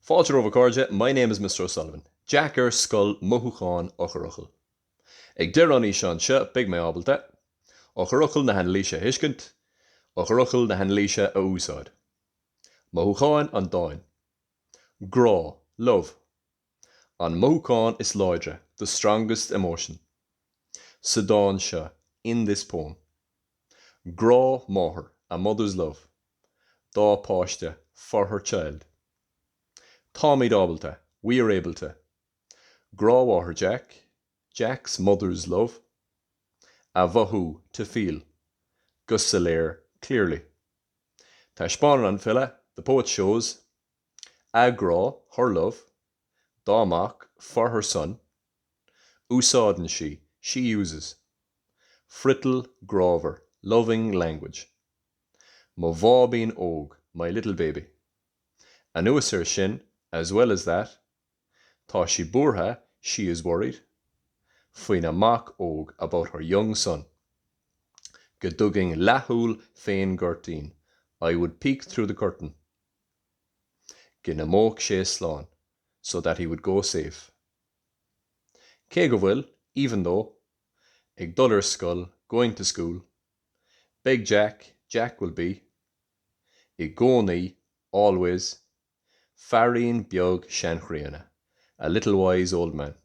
Fáilte romhaibh a chairde, My name is Mr. O'Sullivan. Jeaic ar Scoil mothúcháin eochairfhocail. Ag deireadh an fhíseáin seo beidh mé ábalta. eochairfhocail na hanailíse a thuiscint. eochairfhocail na hanailíse a úsáid. mothúcháin an dáin. grá, love. an mothúchán is láidre, the strongest emotion. sa dán seo, in this poem. grá máthar, a mother's love. dá páiste, for her child. Táimid ábalta, we are able to. Grá Mháthair Jack, Jack's mother's love. A mhothú, to feel. Go soiléir, clearly. Taispeánann an file, the poet shows. A grá, her love. Dá mac, for her son. Úsáideann sí, she uses. Friotal grámhar, loving language. Mo bháibín óg, my little baby. Anuas air sin, as well as that, tá sí buartha, she is worried, faoina mac óg, about her young son. Go dtugainn leathshúil fén gcuirtín, I would peek through the curtain. Go n-imeodh sé slán, so that he would go safe. Cé go bhfuil, even though, ag dul ar scoil, going to school, Beidh Jack, Jack will be, i gcónaí, always, feairín beag seanchríonna, a little wise old man,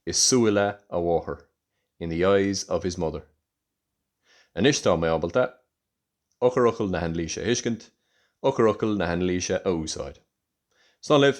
i súile a mháthar, in the eyes of his mother. Anois tá mé ábalta eochairfhocail na hanailíse a thuiscint, eochairfhocail na hanailíse a úsáid. Slán libh!